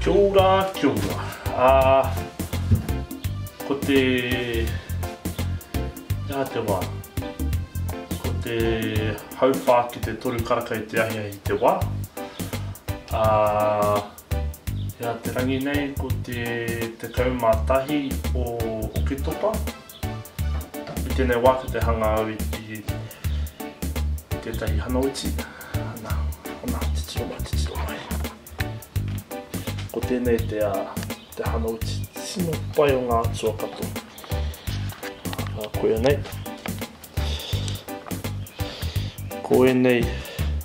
Kia ora, kia ora. Uh, ko te... Ia te wā. Ko te hauwhā ki te toru karaka i te ahiahi i te wā. Uh, ia te rangi nei ko te te kaumātahi o Oketopa. I tēnei wā ki te hanga au i, i, i tētahi hanauiti. Ana, ana, titiro mai, titiro mai. Ko tēnei te te hana uti tino pai o ngā atua katoa. Ā, koia nei. Ko ēnei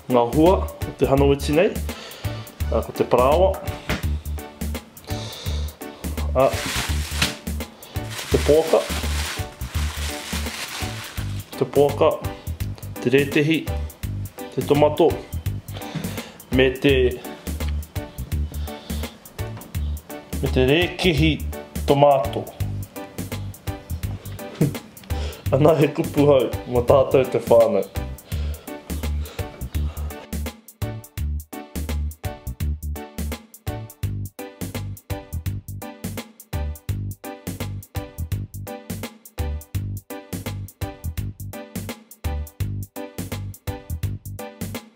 ngā hua o te hana uti nei. Ā, ko te parāoa. Ā, te poaka. Te poaka. Te rētehi. Te tomato. me te me te rēkehi tomato Ana he kupu hou mo tātou te whānau.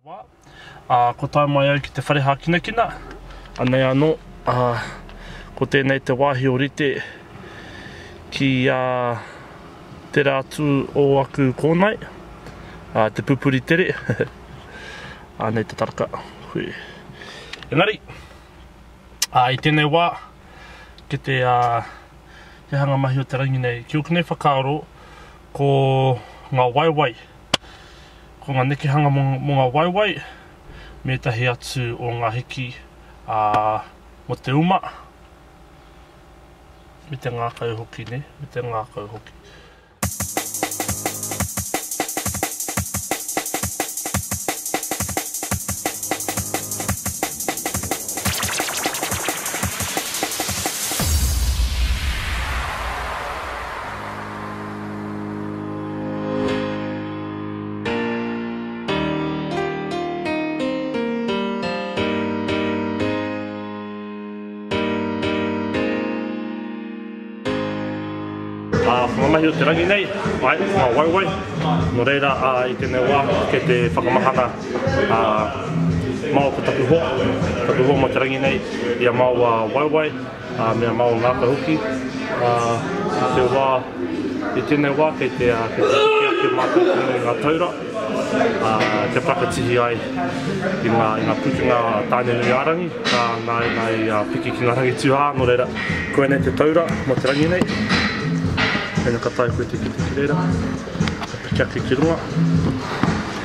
te wā, ā, kua tae mai au ki te whare hākinakina, anei anō, ā, ko tēnei te wāhi o rite ki ā tērā atu o aku kōnae, ā, te pupuri tere, ā, nei te taraka, hui. Engari, ā, i tēnei wā, ki te, ā, te hanga mahi o te rangi nei, ki ōku nei whakaaro, Ko ngā waewae, ko ngā nekehanga mō ngā waewae mētahi atu o ngā hiki mō te uma, me te ngākau hoki nei, me te ngākau hoki. mahi o te rangi nei, ai, ngā waiwai. Nō reira, a, i tēnei wā, ke te whakamahana a, Mao ko taku hoa, taku hoa mo te rangi nei, ia Mao a waiwai. Ngā mea mā o ngāka hoki. I te wā, i tēnei wā kei te piki ake mātou tonu i ngā taura kia whakatihi ai i ngā pukenga a Tāne-nui-ā-rangi, nā i piki ki ngā rangi tūhā, nō reira, koinei te taura mō te rangi nei. Tēnei ka tae koe te kite ki reira, ka piki ake ki runga.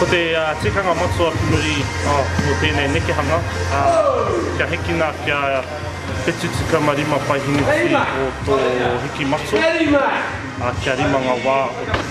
Ko te tikanga matua ki muri o tēnei nekehanga, kia hikina kia 75 paehineti o tō hiki matua, kia rima ngā wā o te.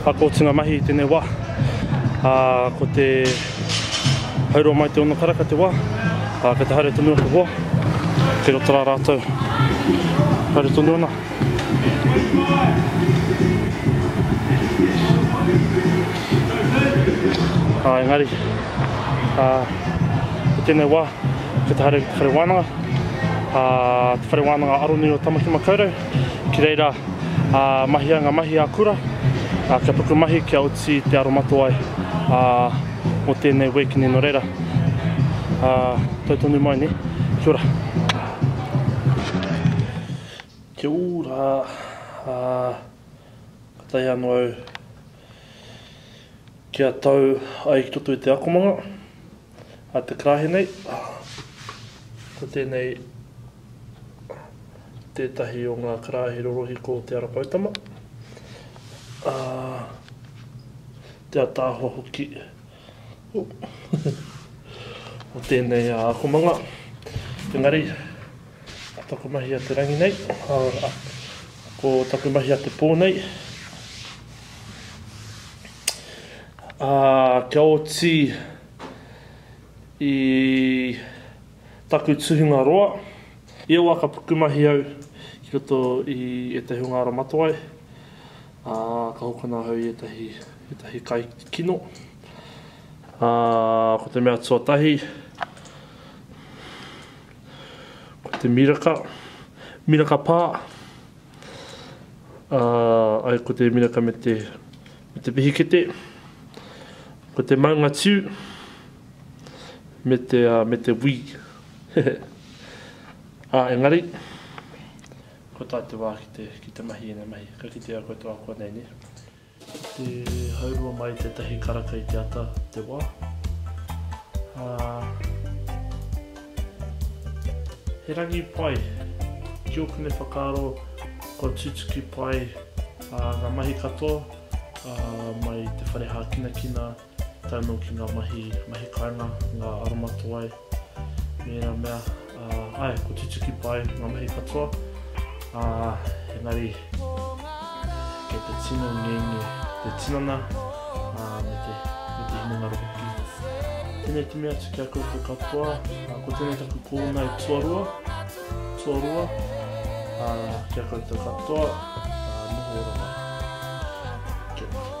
Hakoatunga mahi i tēnei wā. Ā, ko te hauroa mai te ono karaka te wā. Ā, kei te haere tonu atu hoa. Kei roto rā rātou. Haere tonu ana. Ā, engari, ā, ko tēnei wā, Ko te haere ko te whare wānanga, ā, te whare wānanga aronui o Tamaki Makaurau. Ki reira, ā, mahia ngā mahi ā-kura, ā, kia puku mahi, kia oti te aromatawai, ā, mō tēnei week nei nō reira. Ā, tau tonu mai nei. Kia ora. Kia ora, ā, ka tae anō au. Kia tau ai ki roto i te akomanga a te karahe nei. Ko tēnei tētahi o ngā karaehe rorohiko o Te Ara Poutama, ā, te ataahua hoki. o tēnei akomanga. Engari, ko taku mahi a te rangi nei, ko taku mahi a te pō nei, a, kia oti i taku tuhinga roa, ia wā ka pukumahi au ki roto i ētahi o ngā ara matawai, Ā, ka hokona ahau i ētahi, ētahi kai kino. Ā, ko te mea tuatahi, ko te miraka, miraka pā. Ā, ai ko te miraka me te, me te pihikete, ko te maunga tiu, me te, me te wī. Hehe. Ā, engari, Ko tā te wā ki te, ki te mahi ēnei mahi, ka kitea koutou ako nei, nē? Ki te haurua mai tētahi karaka i te ata, te wā, ā, he rangi pai, ki ōku nei whakaaro, kua tutuki pai, ā, ngā mahi katoa, ā, mai te whare hākinakina, tae noa ki ngā mahi, mahi kāinga, ngā aromatawai, me ērā mea, ā, āe, kua tutuki pai ngā mahi katoa, ā, engari, kei te tino ngenge te tinana, ā, me te, me te hinengaro hoki. Tēnei te mea atu ki a koutou katoa, ā, ko tēnei taku kōuna e tuarua, tuarua, ā, ki a koutou katoa, ā, noho ora mai. Kia ora.